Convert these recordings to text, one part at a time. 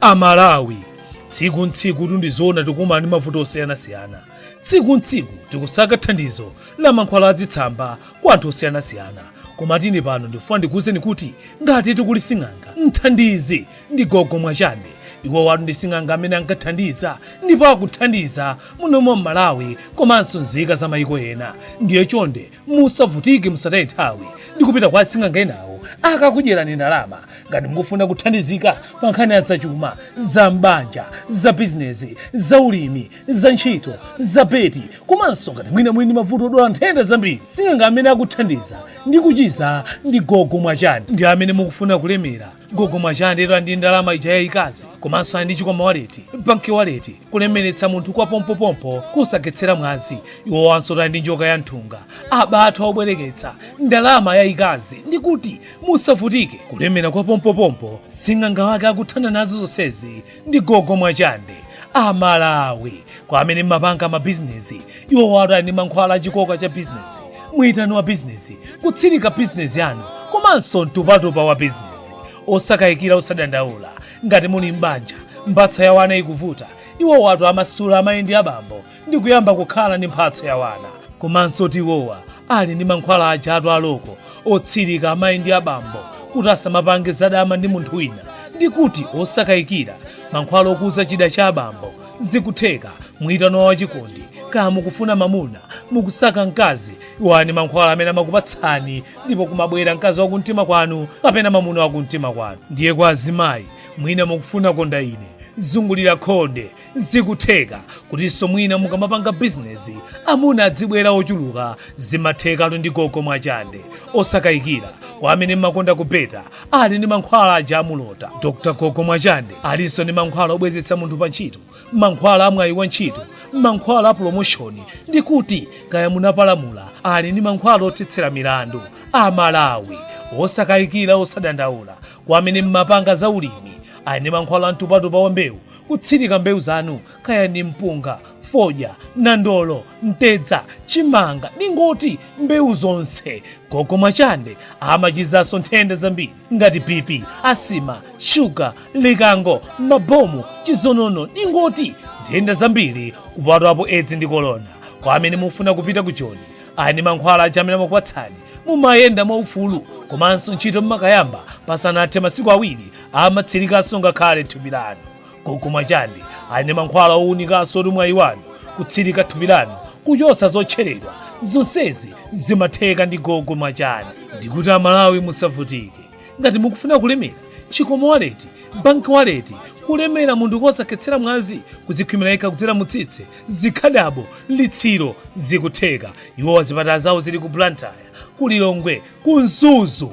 amalawi tsiku ntsiku tu ndi zoona tikumana ndi mavuto osiyanasiyana tsiku ntsiku tikusaka thandizo la mankhwala adzitsamba kwa anthu osiyanasiyana koma tu ine pano ndikufuna ndikuwuzeni kuti ngatitu kuli sing'anga mthandizi ndi gogo mwachande iwowatu ndi sing'anga amene ankathandiza ndipo akuthandiza muno m'malawi komanso nzika za mayiko ena ndiye chonde musavutike musataye nthawi ndi kupita kwa asing'anga enawo akakudyerani ndalama ngati mukufuna kuthandizika pa nkhani ya zachuma za m'banja za bizinesi za ulimi za ntchito za beti komanso ngati mwina muli ndi mavuto odwala nthenda zambiri sing'anga amene akuthandiza ndi kuchiza ndi gogo mwachande amene mukufuna kulemera gogo mwachandetu ali ndi ndalama ija yayikazi komanso ali ndi chikwama waleti banki waleti kulemeretsa munthu kwa pompopompo kosakhetsera mwazi iwowansotu ali ndi njoka ya nthunga abathwa obwereketsa ndalama yayikazi ndi kuti musavutike kulemera kwa pompopompo sing'anga wake akuthana nazo zonsezi ndi gogo mwachande amalawi kwa amene mmapanga mabizinesi iwowatu ali ndi mankhwala achikoka cha bizinesi mwitano wa bizinesi kutsirika bizinesi yanu komanso mtupatupa wa bizinesi osakayikira osadandaula ngati muli m'banja mphatso ya wana yikuvuta iwowatu amasula amayi ndi abambo ndi kuyamba kukhala ndi mphatso ya wana komansotu iwowa ali ndi mankhwala ajatu aloko otsirika amayi ndi abambo kuti asamapange zadama ndi munthu wina ndi kuti osakayikira mankhwala okuza chida cha abambo zikutheka mwitano wa wachikondi kaya mukufuna mamuna mukusaka mkazi iwo ali ndi mankhwala amene amakupatsani ndipo kumabwera mkazi wa kumtima kwanu kapena mamuna wa kumtima kwanu ndiye kwa azimayi mwina mukufuna konda ine zungulira khonde Zikutheka kutinso mwina mukamapanga bizinesi amuna adzibwera ochuluka zimathekatu ndi gogo mwachande osakayikira kwa amene mmakonda kubeta ali ndi mankhwala aja amulota dokta gogo mwachande alinso ndi mankhwala obwezetsa munthu pa ntchito mankhwala amwayi wa ntchito mankhwala a promoshoni ndi kuti kaya munapalamula ali ndi mankhwala othetsera milandu amalawi osakayikira osadandaula kwa amene mmapanga za ulimi ali ndi mankhwala amtupatupa wa mbewu Kutsirika mbewu zanu kaya ndi mpunga, fodya, nandolo, mtedza, chimanga ningoti mbewu zonse. Gogo Mwachande amachizanso nthenda zambiri ngati BP, asima, shuga, likango, mabomu, chizonono ningoti nthenda zambiri kupatulapo edzi ndi kolona. Kwa amene mufuna kupita ku Joni ali ndi mankhwala aja amene amakupatsani mumayenda mwaufulu komanso ntchito mmakayamba pasanathe masiku awiri amatsilikanso ngakhale thupi lanu. Gogo Mwachandi ali ndi mankhwala owunikanso olimwayi wanu kutsilika thupi lanu kuchotsa zotcheledwa. Zonsezi zimatheka ndi gogo Mwachandi. Ndikuti a Malawi musavutike. Ngati mukufuna kulemera, Chikomo wallet, bank wallet, kulemera munthu kosakhetsera mwazi, kudzikhwimira wekha kudzera mu tsitsi, zikhadabo, litsiro, zikutheka. Iwowa zipatala zawo zili ku Blantyre, ku Lilongwe, ku Mzuzu.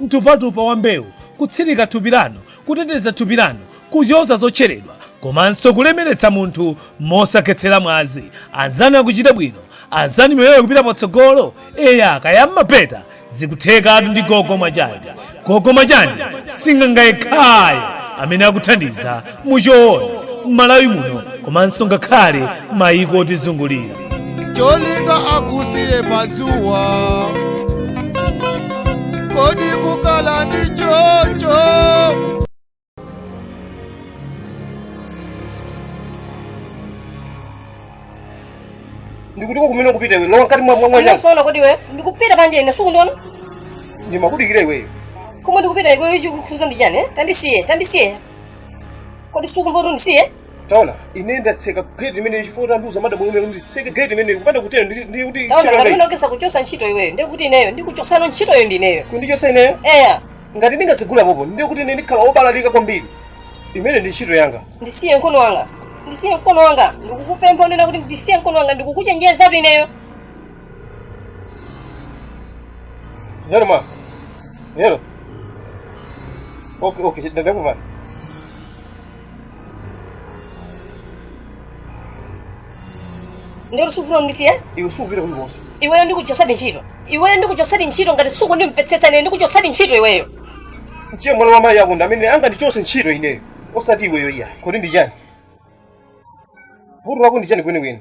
mtupatupa wa mbewu, kutsirika thupi lanu, kuteteza thupi lanu kuchotsa zotcheredwa komanso kulemeretsa munthu mosakhetsera mwazi. Anzanu akuchita bwino, anzanu miyoyo ikupita patsogolo. Eya, kaya mmabeta zikuthekatu ndi gogo mwachandi. Gogo mwachandi sing'anga yekhayo amene akuthandiza muchoonadi mmalawi muno komanso ngakhale maiko otizungulira cholinga akusiyeni padzuwa kodi ukukhala ndi choncho ndi kutiko kumene ukupita iwe lowa mkati mwa mwa nyanja Wazunzika kodi iwe? Ndikupita panje ine sukundiona? ndimakudikira iweyo Koma ndikupita iwe ichi ndikukuuza ndi chani? eh? Tandisiye, tandisiye. kodi sukumva kuti ndisiye taona ine ndatseka gate imene chifukwa tandiuza madam omwe nditseke gate imene kupanda kutero ndi ndi kuti taona tchakanga kapena ukayesa kuchosa ntchito iweyo ndiye kuti ineyo ndikuchosanso ntchitoyo ndi ineyo kundichosa ineyo eya ngati ndingatsegule apopo ndiye kuti ine ndikhala obalalika kwambiri imene ndi ntchito yanga ndisiye mkono wanga ndisiye mkono wanga ndikukupempha kunena kuti ndisiye mkono wanga ndikukuchenjezatu ineyo Yaro ma. Yaro. Okay, okay, ndakumva. ndiye sufuna undisiye Iwe subira kuli bosi. iweyo ndikuchosadi ntchito iweyo ndikuchosadi ntchito ngati sukundimvesesa ine ndikuchosadi ntchito iweyo Ndiye mwana wa mai yako ndamene angandichose ntchito ineyo. Osati iweyo iya. Kodi ndi chani? Vuto lako ndi chani kweni kweni?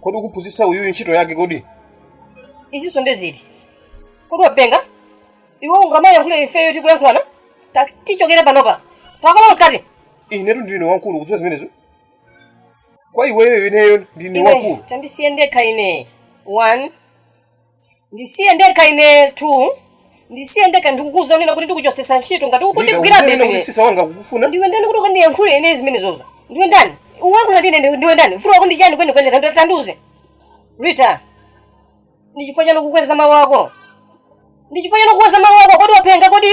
kodi ukuphunzitsa uyuyu ntchito yake kodi izinso ndi ziti kodi wapenga iwe ungamayankhule ifeyo tikuyankhulana Ta- tichokere panopa takalowa mkati inetu ndine wamkulu ukudziwa zimenezo kwa iweyo ineyo ndine wamkulu tandisiye ndekha ine one ndisiye ndekha ine tu ndisiye ndekha ndikukuuza kunena kuti ndikuchosesa ntchito ngati ukundigwira Ndikakuuza kuti bwino sisa wanga akukufuna ndiwe ndani kuti ukandiyankhule ine zimenezozo ndiwe ndani uyankhula ndi ine ndiwe- ndiwe ndani vuto lako ndi chani kwenikweni Tandiu- tandiuze rita ndi chifukwa chani ukukweza mawu ako ndi chifukwa chani ukukweza mawu ako kodi wapenga kodi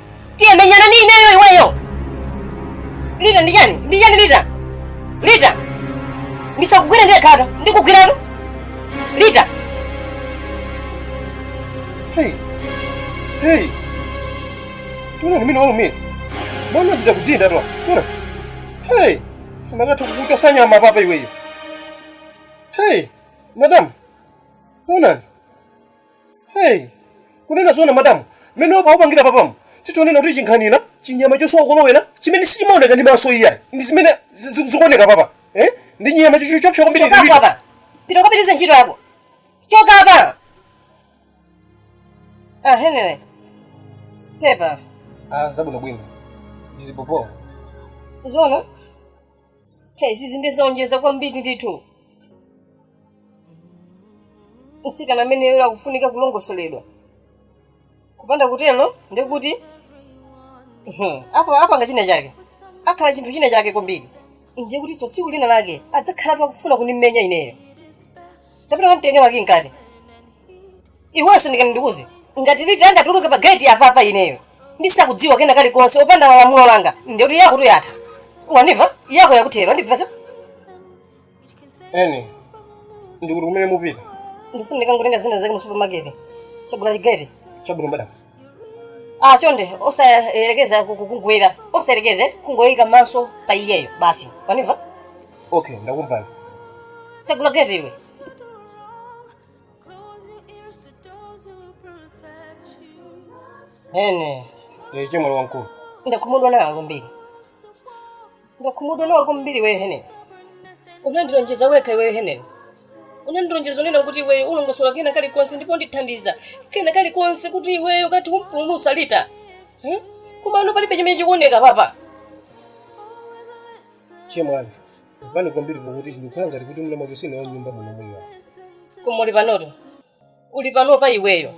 Tiye menyana ndi ineyo iweyo. Lita ndi chani? Ndi chani Lita? Lita. Ndisakugwira ndi khata. Ndikugwirano. Lita. Hey. Hey. Taonani mmene walumira. Mano achita kudindatu. Taona. Hey. Anakatha kukuchotsa nyama papa iweyo. Hey. Madam. Taonani. Hey, kunena zoona madamu, mmene akupangira papamu, titha kunena kuti chinkhanira, chinyama chosowa kolowera, chimene sichimaoneka ndi maso iyayi, ndi zimene zi- zi- zikuoneka papa, eh? ndi chinyama cho- cho- choopsa kwambiri chokapo lilipo. apa pita ukapitirize ntchito yako choka apa ah henry pepa Ah, zabwinobwino. Zilipopo. uziona Hey, izizi ndi zowonjeza kwambiri ndithu mtsikana ameneyo akufunika kulongosoledwa kupanda kutero ndikuti mhm, apo apanga china chake akhala chinthu china chake kwambiri ndiye kutinso tsiku lina lake adzakhalatu akufuna kundimenya ineyo tapita kamtenge wake mkati iwenso ndikati ndikuuze ngati lita angatuluke pa geti apapa ineyo ndisakudziwa kena kalikonse popanda lamulo langa ndiye kuti yakotu yatha wandimva yako yakuthera wandimvetsa ene ndikuti kumene mupita ndifuna ndikangotenga zina zake mu supermarket tsegula chigeti chabwino madam ah chonde osayerekeza ku- ku- kungwera osayerekeze kungoyika maso pa iyeyo basi wandimva okay ndakumvani tsegula geti iwe ene iwe chemwali wamkulu ndakhumudwa nawe kwambiri ndakhumudwa nawe kwambiri iweyo ineyo unandilonjeza wekha iweyo ineyo unandilonjeza unena kuti iweyo ulongosola kena kalikonse ndipo undithandiza kena kalikonse kuti iweyo ukathe kumpulumutsa lita Hmm? koma pano palibe chimene chikuoneka papa chemwali Pepani kwambiri pakuti ndikukhala ngati kuti mwina mwake sine wa nyumba muno mwiyo. koma uli panoto uli panopa iweyo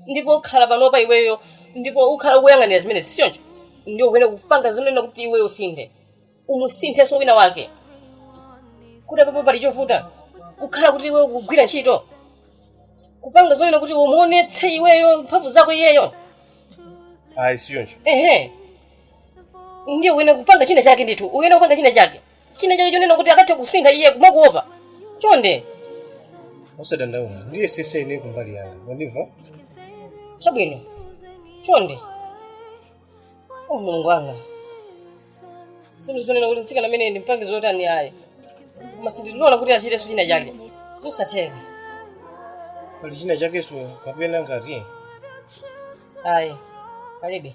ndipo ukhala panopa iweyo ndipo ukhala ukuyang'anira zimenezi sichoncho ndiye ukuyenera kupanga zonena kuti iweyo usinthe umusinthenso wina wake kuti apapo pali chovuta kukhala kuti iweyo kugwira ntchito kupanga zonena kuti umuonetse iweyo mphamvu zako iyeyo Ayi sichoncho. ehe ndiye uyenera kupanga china chake ndithu uyenera kupanga china chake china chake chonena kuti akathe kusintha iye kumakuopa chonde usadandaule ndiyesetsa ine kumbali yanga mwandimva chabwino chonde o mulungu wanga sinu zonena kuti mtsikana amene ndimpange zotani ayi koma sindilola kuti achitenso china chake zosatheka pali china chakenso kapena ngati ayi palibe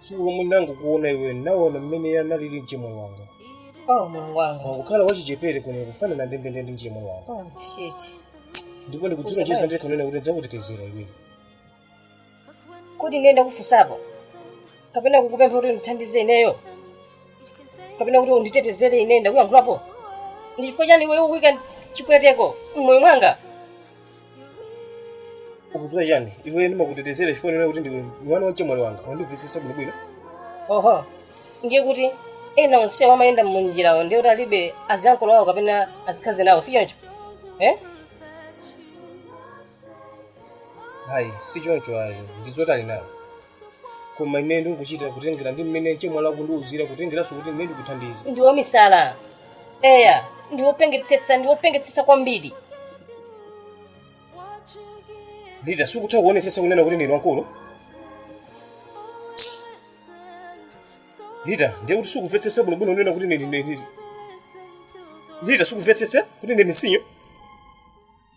chifukwa mmene nangokuona iwe naona mmene iye analili mchemwe wanga oh mulungu wanga mwangokhala wachichepere kuno kufanana ndendende ndi mchemwe wanga oh shit ndipo ndikudziwa Kusabashi. chisa ndikhanena kuti ndidzakutetezera iwe kuti kodi ine ndakufunsapo kapena kukupempha kuti undithandize ineyo kapena kuti unditetezere ine ndakuyankhulapo ndi chifukwa chani iwe ukuika chipweteko mmoyo mwanga ukudziwa chani iwe ndimakutetezera chifukwa ndiona kuti ndiwe mwana wachemwali wanga wandimvetsetsa bwinobwino oho ndiye kuti ena onsewo amayenda munjirawo ndiye kuti alibe aziyankolo wawo kapena azikhazi nawo si choncho eh? ayi si choncho ayi ndiziwa kuti ali nawo koma ine ndikuchita kutengera ndi mmene chemwali akundiuzira kutengeranso kuti ine ndikuthandiza ndi wamisala eya ndi wopengetsetsa ndi wopengetsetsa kwambiri Rita sukutha kuonetsetsa kunena kuti ndinu wankulu Rita ndiye kuti sukumvetsetsa bwinobwino kunena kuti ndinu Rita sukumvetsetsa kuti ndinu sinyo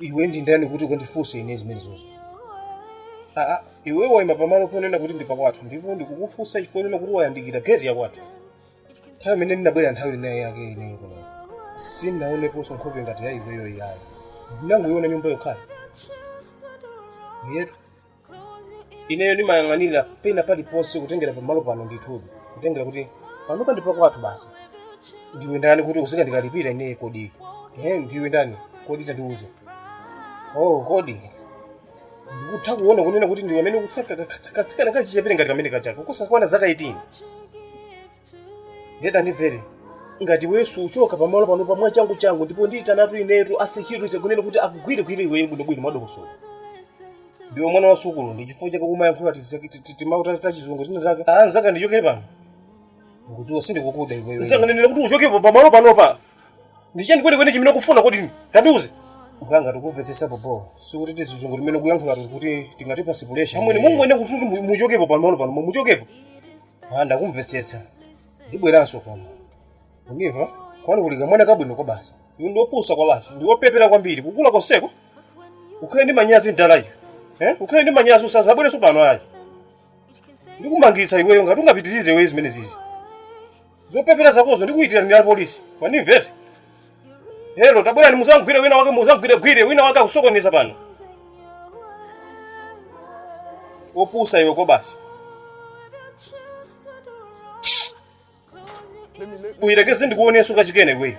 iwe ndi ndani kuti ukandifunse ine zimenezozo aa iwe waima pamalo ponena kuti ndi pakwathu ndipo ndikukufunsa chifukwa chonena kuti wayandikira geti yakwathu nthawi imene ndinabwera nthawi inayake ineyo kuno sindinaoneponso nkhope ngati ya iweyo iyayi ndinangoiona nyumba yokha iyi etu ineyo ndimayang'anira pena paliponse kutengera pamalo pano ndithudi kutengera kuti panopa ndi pakwathu basi ndiwe ndani kuti uzindikalipira ineyo kodi eh ndiwe ndani kodi tandiuze oh kodi ndikutha kuona kunena kuti ndiwe amene ukutsaka katsikana kachichepere ngati kameneka chako kosakwana zaka 18 nde tandimvere ngati iweyo suchoka pamalo pano pano mwachanguchangu ndipo ndiyitanatu inetu asekyurite kunena kuti akugwirigwire iweyo bwinobwino mwadongosolo ndiwe mwana wa sukulu ndi chifukwa chake umayankhula timawu tachizungu zinazake anzanga ndichokereni pano ndikudziwa sindikukudziwa iweyo nchifukwa ndikunenera kuti uchokepo pamalo panopa ndichani kwenikweni chimene ukufuna kodi tandiuze ngati ukumvetsetsa bobo osati tizizungu timene ukuyankhula kuti tingatipatse pulesha amwene mungoyenera kuti muchokepo pamalo pano muchokepo Ah, ndakumvetsetsa ndibweranso kuno undimva kwanu kuli kamwana kabwino kwa basi iwe ndiwe wopusa kwabasi ndiwe wopepera kwambiri kukula konseko ukhale ndi manyazi mdala iwe eh? ukhale ndi manyazi usazabwerenso pano ayi ndikumangitsa iweyo ngati ungapitirize iweyo zimenezizi zopepera zakozo ndikuyitanira apolisi wandimvetsa Hello, tabwerani muzamgwire wina wake muzamgwiregwire wina wake akusokoneza pano. Opusa iwe kwabasi. Uyirekeze ndikuoneso kachikena iwe.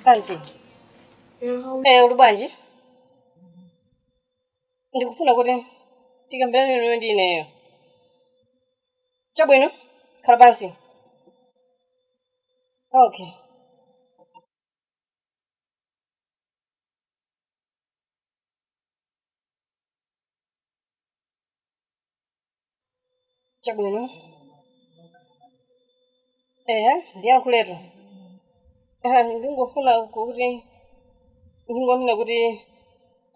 Asante. Eh, uli bwanji? Ndikufuna kuti tikambirane lero ndi inuyo. Chabwino, khala pansi. Okay. chabwino ehe ndiyankhuletu Ah, ndingofuna kuti ndingonena kuti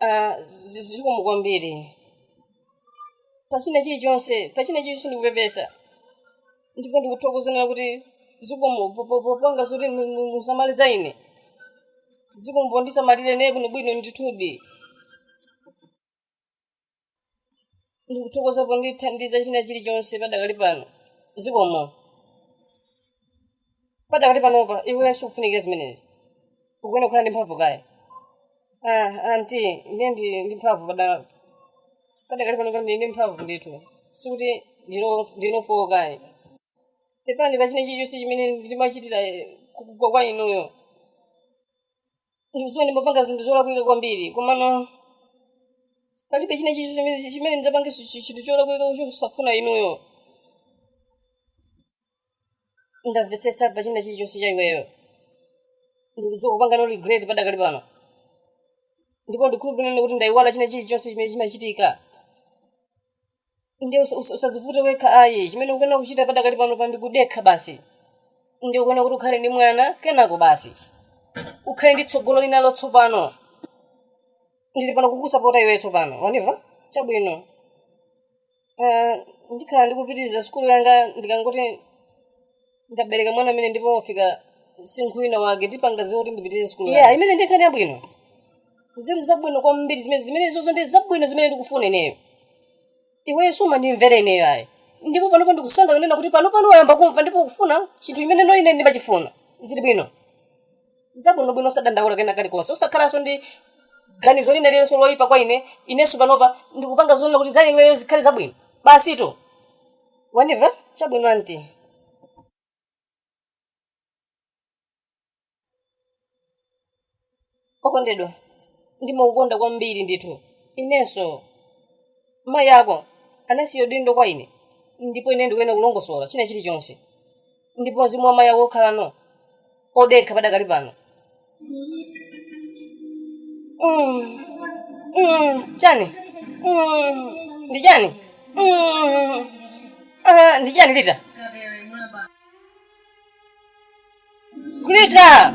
ah, zi- zikomo kwambiri pa china chilichonse pa china chilichonse ndikupepesa ndipo ndikuthokoza kunena kuti zikomo po- po- popanga zoti mu- mu- musamale za ine zikomo pondisamalira ine bwinobwino ndithudi ndikuthokoza pondithandiza china chilichonse padakali pano zikomo padakali panopa iwe sikufunikira zimenezi ukuona kukhala ndi mphamvu kaya ah, anti ine ndi ndi mphamvu pada- padakali panopa ndili ndi mphamvu ndithu sikuti ndino- ndinofowo kaya pepani pa china chilichonse chimene ndimachitira eh, ku- kwa kwa inuyo ndikudziwa ndimapanga zinthu zolakwika kwambiri komano palibe china chilichonse chimene chimene ndidzapange chi- chi- chinthu cholakwika chosafuna inuyo ndamvetsetsa pa china chilichonse cha iweyo ndikudziwa ukupanga regret padakali pano ndipo ndikhulupirire kuti ndayiwala china chilichonse chimene chimachitika ndiye usa- usa- usazivute wekha ayi chimene ukuyenera kuchita padakali panopa ndi kudekha basi ndiye ukuyenera kuti ukhale ndi mwana kenako basi ukhale ndi tsogolo lina latsopano ndili pano kukusapota iweyo tsopano wandimva chabwino Ah, ndikhala ndikupitiriza sukulu yanga ndikangoti ndabereka mwana amene ndipo wafika msinkhu wina wake ndipanga zoti ndipitirize sukulu yanga. imeneyo ndi nkhani yabwino nzeru zabwino kwambiri zimene zimenezozo ndi zabwino zimene ndikufuna ineyo iweyo sumandimvera ineyo ayi ndipo panopa ndikusangalala kunena kuti pano pano wayamba kumva ndipo ukufuna chinthu chimene ine ndimachifuna zili bwino zabwinobwino osadandaula kena kalikonse osakhalanso ndi ganizo lina lililonse loyipa kwa ine inenso panopa ndikupanga zonena kuti za iweyo zikhale zabwino basitu Wandiva? Chabwino anti. Okondedwa, ndimakukonda kwambiri ndithu. Inenso. Mayi ako anasiya udindo kwa ine ndipo ine ndikuyenera kulongosola china chilichonse. ndipo mzimu wa mayi ako ukhala no odekha padakali pano Mm. Mm. chani Mm. ndi chani Mm. Ah, ndi chani Rita